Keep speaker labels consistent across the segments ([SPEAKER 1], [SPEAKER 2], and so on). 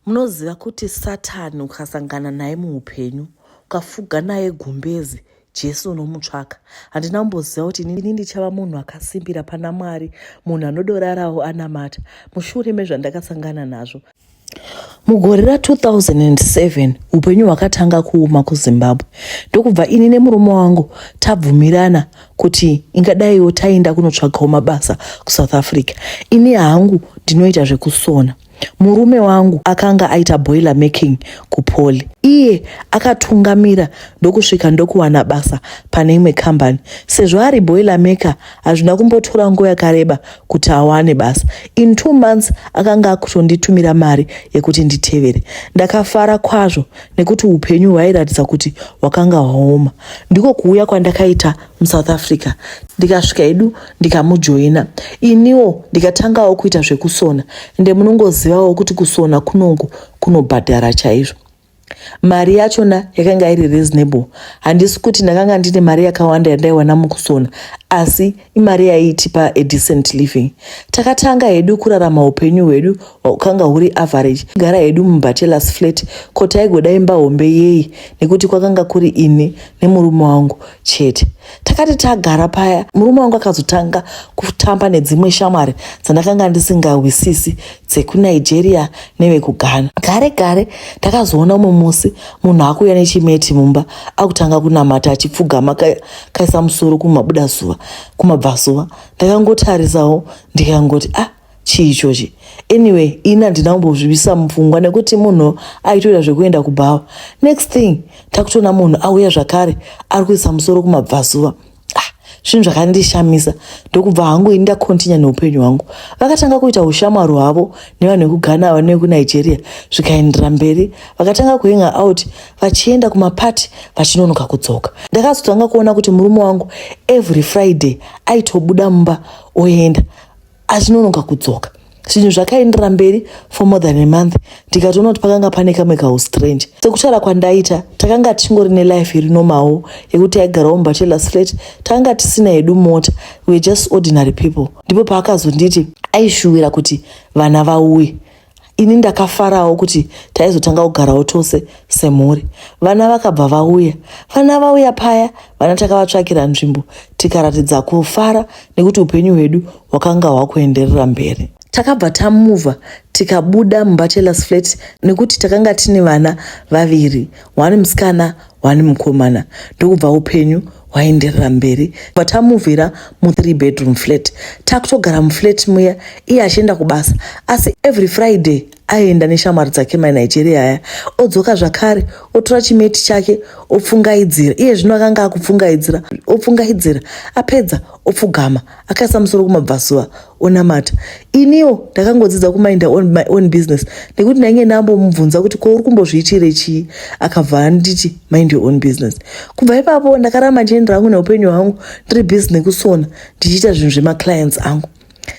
[SPEAKER 1] Munoziva kuti Satani ukasangana naye muupenyu, ukafuga naye gumbezi, Jesu unomutsvaka. Handina kumboziva kuti inini ndichava munhu akasimbira pana Mwari, munhu anodorarawo anamata, mushure mezvandakasangana nazvo. Mugore ra 2007 upenyu hwakatanga kuuma kuZimbabwe ndokubva ini nemurume wangu tabvumirana kuti ingadaiwo taenda kunotsvagawo mabasa kuSouth Africa. Ini hangu ndinoita zvekusona. Murume wangu akanga aita boiler making kupoli. Iye akatungamira ndokusvika ndokuwana basa pane imwe kambani. Sezvo ari boiler maker, hazvina kumbotora nguva yakareba kuti awane basa. In two months akanga akutonditumira mari yekuti nditevere. Ndakafara kwazvo nekuti upenyu hwairatidza kuti hwakanga hwaoma. Ndiko kuuya kwandakaita musouth africa ndikasvika edu ndikamujoina iniwo ndikatangawo kuita zvekusona ende munongozivawo kuti kusona kunongo kunobhadhara chaizvo mari yachona yakanga iri reasonable handisi kuti ndakanga ndine mari yakawanda yandaiwana mukusona asi imari yaiitipa adecent living takatanga hedu kurarama upenyu hwedu hwakanga huri average gara hedu mubachelors flat ko taigoda imba hombe yei nekuti kwakanga kuri ini nemurume wangu chete takati tagara paya murume wangu akazotanga kutamba nedzimwe shamwari dzandakanga ndisingahwisisi dzekunigeria nevekughana gare gare takazoona umwe musi munhu akuuya nechimeti mumba akutanga kunamata achipfugama kaisa musoro kumabuda zuva kumabvazuva ndakangotarisawo ndikangoti ah chii ichochi anyway ini handina kumbozvivisa mupfungwa nekuti munhu aitoita zvekuenda kubhawa next thing takutoona munhu auya zvakare ari kuisa musoro kumabvazuva ah, zvinhu zvakandishamisa ndokubva hangu ini ndakontinya neupenyu hwangu vakatanga kuita ushamwari hwavo nevanhu vekughana vanhu vekunigeria zvikaendera mberi vakatanga kuhenga out vachienda kumapati vachinonoka kudzoka ndakazotanga kuona kuti murume wangu every friday aitobuda mumba oenda achinonoka kudzoka zvinhu zvakaendera mberi for more than a month ndikatoona kuti pakanga pane kamwe kaustrange sekutaura kwandaita takanga tichingori nelife iri nomawo yekuti taigarawo mubachelor flat takanga tisina yedu mota we're just ordinary people ndipo paakazonditi aishuwira kuti vana vauye Ini ndakafarawo kuti taizotanga kugarawo tose semhuri. Vana vakabva vauya. Vana vauya paya, vana takavatsvakira nzvimbo tikaratidza kufara nekuti upenyu hwedu hwakanga hwakuenderera mberi. Takabva tamuva tikabuda mubachelors flat nekuti takanga tine vana vaviri, one musikana wani mukomana ndokubva upenyu hwaenderera mberi vatamuvhira muthree bedroom flat takutogara muflat muya iye achienda kubasa asi every friday aienda neshamwari dzake manigeria aya odzoka zvakare otora chimeti chake opfungaidzira iye zvino akanga akupfungaidzira opfungaidzira apedza opfugama akaisa musoro kumabvasuva onamata iniwo ndakangodzidza kumainda on my own business nekuti ndainge ndambomubvunza kuti ko uri kumbozviitire chii akabva anditi mind your own business kubva ipapo ndakaramba ndichiendera hangu neupenyu hwangu ndiri busy nekusona ndichiita zvinhu zvemaclients angu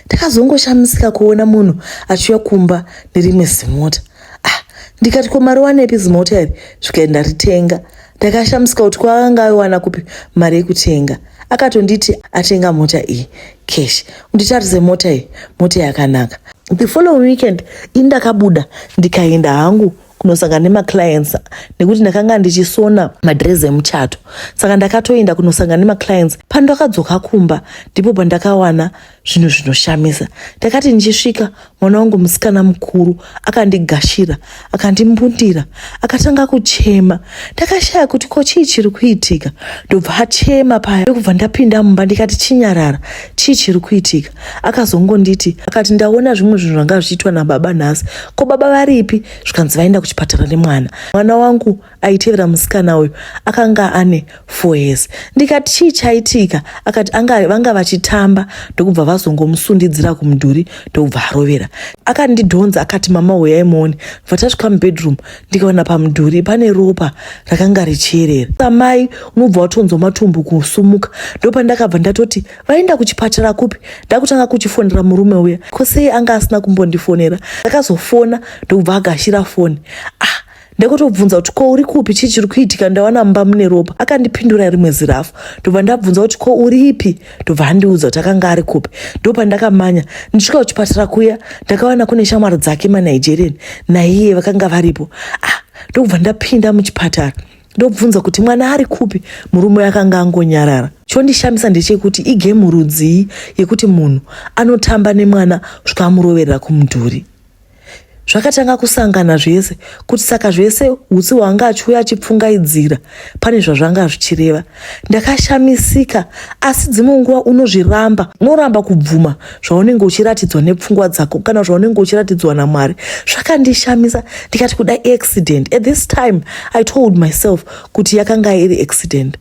[SPEAKER 1] ndakazongoshamisika kuona munhu achiuya kumba nerimwe zimota ah ndikati ko mariwanepi zimota iri zvikaenda ritenga Ndakashamisika kuti kwaanga aiwana kupi mari yekutenga. Akatonditi atenga mota iyi cash. Nditarise mota iyi, mota yakanaka. The following weekend ini ndakabuda ndikaenda hangu kunosangana nemaclients nekuti ndakanga ndichisona madress emuchato saka ndakatoenda kunosangana nemaclients pandakadzoka kumba ndipo pandakawana zvinhu zvinoshamisa ndakati ndichisvika mwana wangu musikana mukuru akandigashira akandimbundira akatanga kuchema ndakashaya kuti ko chii chiri kuitika ndobva achema paya ndokubva ndapinda mumba ndikati chinyarara chii chiri kuitika akazongonditi akati ndaona zvimwe zvinhu zvanga zvichiitwa nababa nhasi ko baba varipi zvikanzi vaenda kuchipatara nemwana mwana wangu aitevera musikana uyu akanga ane four years ndikati chii chaitika akati anga vanga vachitamba ndokubva vazongomusundidzira kumudhuri ndokubva arovera akandidhonza akati mama huyai muone bva tasvika mubedroom ndikaona pamudhuri pane ropa rakanga richierera samai unobva watonzwa matumbu kusumuka ndopandakabva ndatoti vaenda kuchipatara kupi ndakutanga kuchifonera murume uya ko sei anga asina kumbondifonera ndakazofona ndokubva agashira foni ah ndakatobvunza kuti ko uri kupi chii chiri kuitika ndawana mumba mune ropa akandipindura rimwe zirafu ndobva ndabvunza kuti ko uri ipi ndobva andiudza kuti akanga ari kupi ndopandakamanya ndisvika kuchipatara kuya ndakawana kune shamwari dzake manigerian naiye vakanga varipo ah ndokubva ndapinda muchipatara ndobvunza kuti mwana ari kupi murume akanga angonyarara chondishamisa ndechekuti igemu rudzii yekuti munhu anotamba nemwana zvikamuroverera kumudhuri zvakatanga kusangana zvese kuti saka zvese hutsi hwanga achiuya achipfungaidzira pane zvazvanga zvichireva ndakashamisika asi dzimwe nguva unozviramba unoramba kubvuma zvaunenge uchiratidzwa nepfungwa dzako kana zvaunenge uchiratidzwa namwari zvakandishamisa ndikati kuda accident at this time i told myself kuti yakanga iri accident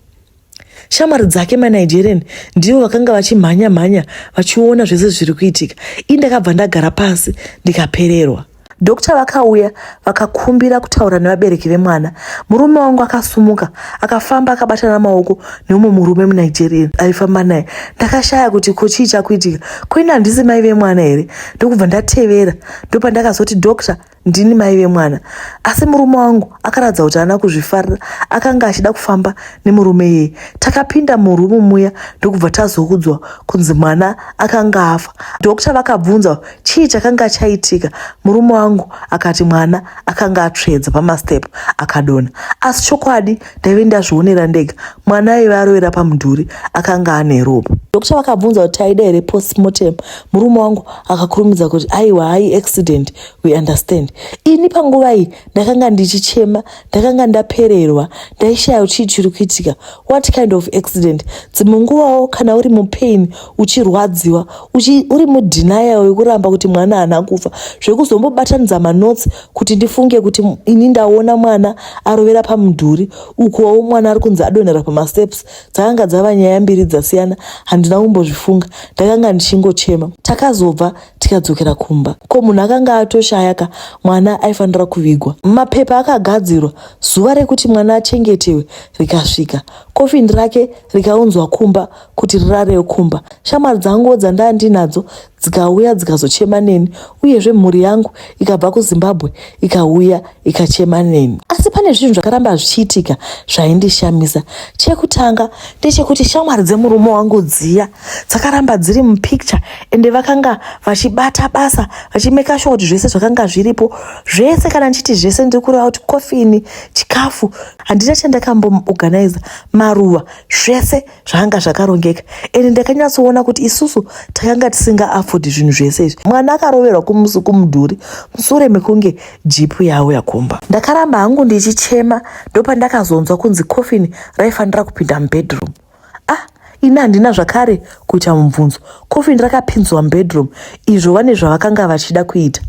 [SPEAKER 1] Shamwari dzake maNigerian ndivo vakanga vachimhanya mhanya vachiona zvese zviri kuitika. Ini ndakabva ndagara pasi ndikapererwa. Dokita vakauya vakakumbira kutaura nevabereki vemwana. Murume wangu akasumuka akafamba akabatana maoko neumwe murume muNigerian aifamba naye. Ndakashaya kuti ko chii chakuitika, ko ini handisi mai vemwana here? Ndokubva ndatevera, ndopandakazoti dokita Ndini mai vemwana asi murume wangu akaratidza kuti haana kuzvifarira akanga achida kufamba nemurume iyeye. Takapinda murumu muya ndokubva tazoudzwa kunzi mwana akanga afa. Dhokta vakabvunza chii chakanga chaitika, murume wangu akati mwana akanga atsvedza pamastep akadonha. Asi chokwadi ndaive ndazvionera ndega, mwana aive arovera pamudhuri akanga ane ropa. Dokta vakabvunza kuti taida here postmortem, murume wangu akakurumidza kuti aiwa, hai accident. we understand ini panguva iyi ndakanga ndichichema ndakanga ndapererwa ndaishaya chii chiri kuitika what kind of accident dzimwe nguvawo kana uri mupain uchirwadziwa uchi, uri mudenial wekuramba kuti mwana haana kufa zvekuzombobatanidza manotsi kuti ndifunge kuti ini ndaona mwana arovera pamudhuri ukuwawo mwana ari kunzi adonhera pamasteps dzakanga dzava nyaya mbiri dzasiyana handina kumbozvifunga ndakanga ndichingochema takazobva tikadzokera kumba ko munhu akanga atoshaya ka mwana aifanira kuvigwa mapepa akagadzirwa zuva rekuti mwana achengetewe rikasvika kofini rake rikaunzwa kumba kuti rirarewo kumba shamwari dzanguwo dzandava ndinadzo dzikauya dzikazochema neni uyezve mhuri yangu ikabva kuzimbabwe ikauya ikachema neni asi pane zvinhu zvakaramba zvichiitika zvaindishamisa chekutanga ndechekuti shamwari dzemurume wangu dziya dzakaramba dziri mupicture ende vakanga vachibata basa vachimeka shuwa kuti zvese zvakanga zviripo zvese kana ndichiti zvese ndiri kureva kuti kofini chikafu handina chandakamboorganiza maruva zvese zvanga zvakarongeka and ndakanyatsoona kuti isusu takanga tisingaafodhi zvinhu zvese izvi mwana akaroverwa kumusi kumudhuri musure mekunge jipu yavo yakumba ndakaramba hangu ndichichema ndopandakazonzwa kunzi coffin raifanira kupinda mubedroom ah ini handina zvakare kuita mubvunzo coffin rakapinzwa mubedroom izvo vane zvavakanga vachida kuita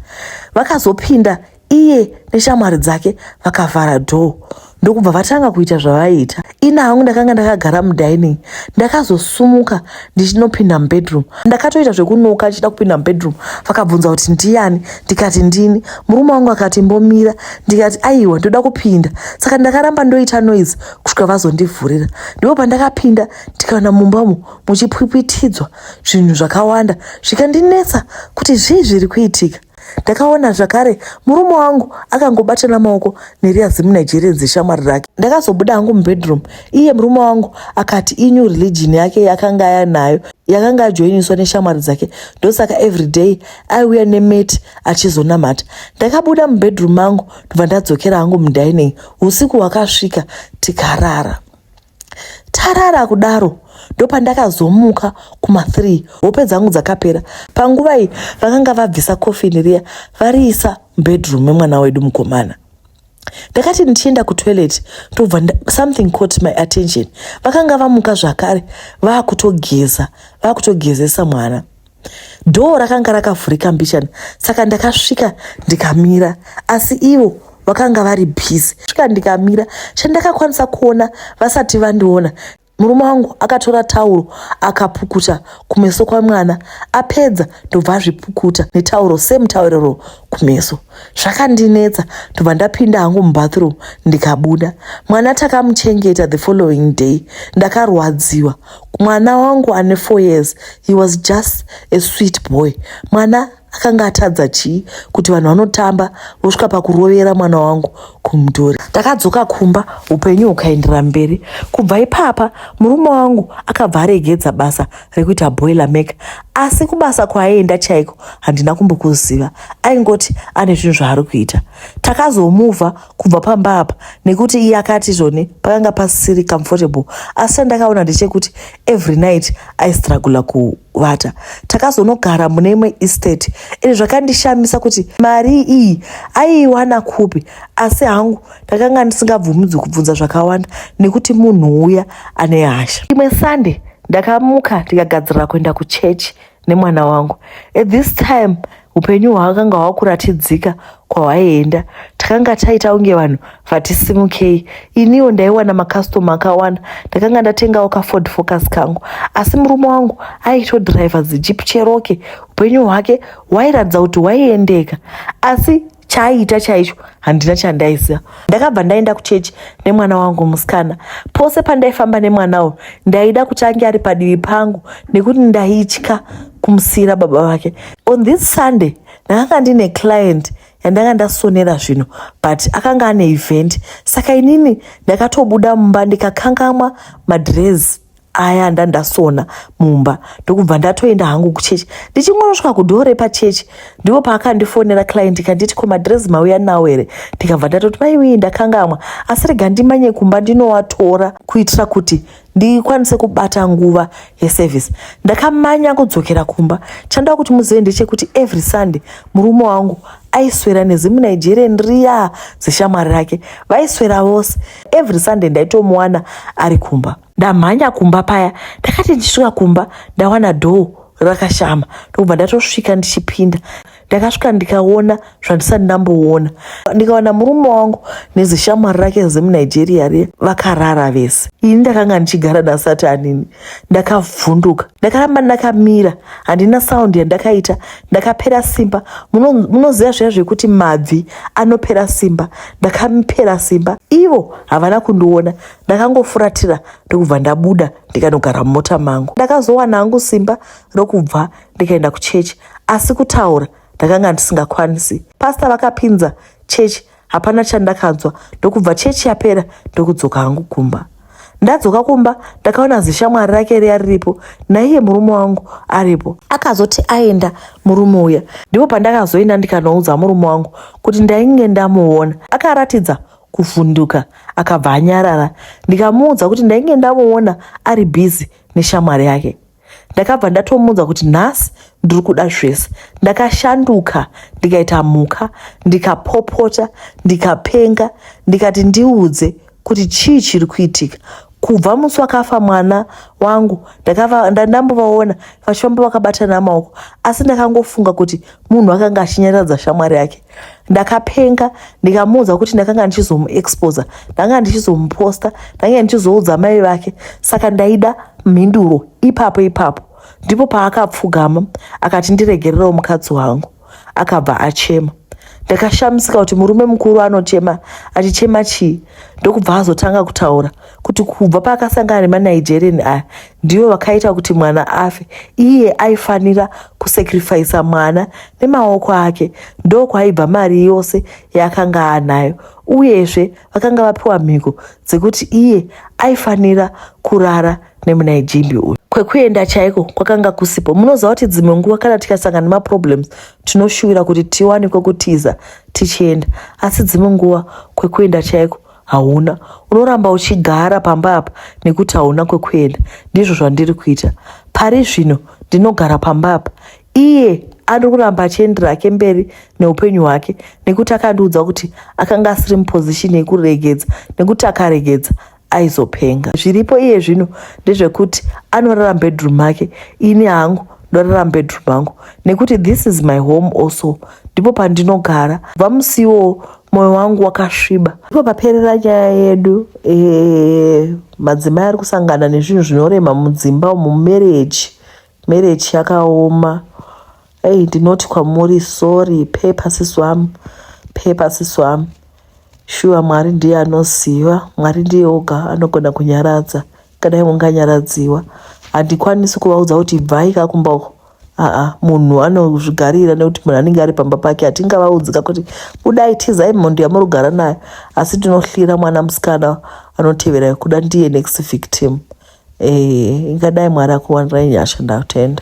[SPEAKER 1] vakazopinda Iye neshamwari dzake vakavhara door ndokubva vatanga kuita zvavaiita. Ina hangu ndakanga ndakagara mudining ndakazosumuka ndichinopinda mubedroom. Ndakatoita zvekunoka ndichida kupinda mubedroom vakabvunza kuti ndiyani ndikati ndini. Murume wangu akati mbomira ndikati aiwa ndoda kupinda. Saka ndakaramba ndoita noise kusvika vazondivhurira. Ndipo pandakapinda ndikaona mumba umu muchipwipwitidzwa zvinhu zvakawanda zvikandinetsa kuti zvii zviri kuitika. ndakaona zvakare murume wangu akangobatana maoko neriya zimu nigerian zeshamwari rake ndakazobuda hangu mubedroom iye murume wangu akati inew religion yake yakanga yanayo yakanga ajoiniswa neshamwari dzake ndosaka everyday aiuya nemeti achizonamata ndakabuda mubedroom mangu ndobva ndadzokera hangu mudining usiku hwakasvika tikarara tarara kudaro ndopandakazomuka kuma 3 hope dzangu dzakapera panguva iyi vakanga vabvisa kofini riya variisa mubedroom memwana wedu mukomana ndakati ndichienda kutoilet ndobva something caught my attention vakanga vamuka zvakare vakutogeza vakutogezesa mwana Dhoo rakanga rakavhurika mbichana saka ndakasvika ndikamira asi ivo vakanga vari busy. Svika ndikamira chandakakwanisa kuona vasati vandiona murume wangu akatora tauro akapukuta kumeso kwamwana apedza ndobva azvipukuta netauro same tauriro kumeso zvakandinetsa ndobva ndapinda hangu mubathroom ndikabuda mwana takamuchengeta the following day ndakarwadziwa mwana wangu ane four years he was just a sweet boy mwana akanga atadza chii kuti vanhu vanotamba vosvika pakurovera mwana wangu kumudhuri takadzoka kumba upenyu hukaendera mberi kubva ipapa murume wangu akabva aregedza basa rekuita boiler maker asi kubasa kwaaienda chaiko handina kumbokuziva aingoti ane zvinhu zvaari kuita takazomuvha kubva pamba apa nekuti iye akati zvone pakanga pasisiri comfortable asi chandakaona ndechekuti every night aistragula kuvata takazonogara mune imwe estate izvi zvakandishamisa kuti mari iyi aiiwana kupi asi hangu ndakanga ndisingabvumidzwi kubvunza zvakawanda nekuti munhu uya ane hasha imwe sunday ndakamuka ndikagadzirira kuenda kuchechi nemwana wangu at this time upenyu hwaakanga hwakuratidzika kwahwaienda takanga taita kunge vanhu vatisimukei iniwo ndaiwana makastoma akawanda ndakanga ndatengawo kaford focus kangu asi murume wangu aitodriver zijeep cheroke upenyu hwake hwairatidza kuti hwaiendeka asi chaiita chaicho handina chandaiziva ndakabva ndaenda kuchechi nemwana wangu musikana pose pandaifamba nemwana uyu ndaida kuti ange ari padivi pangu nekuti ndaitya kumusiira baba vake on this sunday ndakanga ndine client yandanga ndasonera zvino but akanga ane event saka inini ndakatobuda mumba ndikakangamwa madress aya ndandasona mumba ndokubva ndatoenda hangu kuchechi ndichingorosvika kudhoo repachechi ndipo paakandifonera client kanditi ko madress mauya nawo here ndikabva ndatoti maiwii ndakangamwa asi rega ndimanye kumba ndinowatora kuitira kuti ndikwanise kubata nguva yeservice ndakamanya kudzokera kumba chandaa kuti muzive ndechekuti every sunday murume wangu aiswera nezimunigerian riya zeshamwari rake vaiswera vose every sunday ndaitomuwana ari kumba ndamhanya kumba paya ndakati ndisvika kumba ndawana dhoo rakashama ndokubva ndatosvika ndichipinda ndakasvika ndikaona zvandisati ndamboona ndikawana murume wangu nezishamwari rake zemunigeria riya vakarara vese ini ndakanga ndichigara nasati anini ndakavhunduka ndakaramba ndakamira handina saundi yandakaita ndakapera simba munoziva zviya zvekuti mabvi anopera simba ndakamipera simba ivo havana kundiona ndakangofuratira ndokubva ndabuda ndikanogara mumota mangu ndakazowana hangu simba rokubva ndikaenda kuchechi asi kutaura ndakanga ndisingakwanisi pasta vakapinza chechi hapana chandakanzwa ndokubva chechi yapera ndokudzoka hangu kumba ndadzoka kumba ndakaona zishamwari rake riya riripo naiye murume wangu aripo akazoti aenda murume uya ndipo pandakazoenda ndikanoudza murume wangu kuti ndainge ndamuona akaratidza kuvhunduka akabva anyarara ndikamuudza kuti ndainge ndamuona ari busy neshamwari yake ndakabva ndatomuudza kuti nhasi ndiri kuda zvese ndakashanduka ndikaita mhuka ndikapopota ndikapenga ndikati ndiudze kuti chii chiri kuitika kubva musi wakafa mwana wangu ndandambovaona vachifamba vakabatana maoko asi ndakangofunga kuti munhu akanga achinyaradza shamwari yake ndakapenga ndikamuudza kuti ndakanga ndichizomuexposa ndanga ndichizomuposta ndange ndichizoudza mai vake saka ndaida mhinduro ipapo ipapo ndipo paakapfugama akati ndiregererewo mukadzi wangu akabva achema ndakashamisika kuti murume mukuru anochema achichema chii ndokubva azotanga kutaura kuti kubva paakasangana nemanigerian aya ndivo vakaita kuti mwana afe iye aifanira kusacrifisa mwana nemaoko ake ndokwaibva mari yose yaakanga anayo uyezve vakanga vapiwa mhiko dzekuti iye aifanira kurara nemunaijimbi uyu kwekuenda chaiko kwakanga kusipo munoziva kuti dzimwe nguva kana tikasangana nemaproblems tinoshuvira kuti tiwane kwekutiza tichienda asi dzimwe nguva kwekuenda chaiko hauna unoramba uchigara pamba apa nekuti hauna kwekuenda ndizvo zvandiri kuita pari zvino ndinogara pamba apa iye ari kuramba achiendera ake mberi neupenyu hwake nekuti akandiudza kuti akanga asiri mupozishini yekuregedza nekuti akaregedza aizopenga zviripo iye zvino ndezvekuti anorara mubedroom make ini hangu ndorara mubedroom mangu nekuti this is my home also ndipo pandinogara bva musiwo mwoyo wangu wakasviba ipo paperera nyaya yedu eh, madzimai ari kusangana nezvinhu zvinorema mudzimba umu mumereji Marriage yakaoma. Hey, ndinoti kwamuri sorry pepa sisi wam pepa sisi wam shuwa mwari ndiye anoziva mwari ndiye oga anogona kunyaradza kadai munganyaradziwa handikwanisi kuvaudza kuti ibvai kakumba uko aa munhu anozvigarira nekuti munhu anenge ari pamba pake hatingavaudzika kuti budai tizai mhondo yamurugara nayo asi tinohlira mwana musikana anotevera kuda ndiye next victim eh ingadai mwari akuwanirai nyasha ndatenda.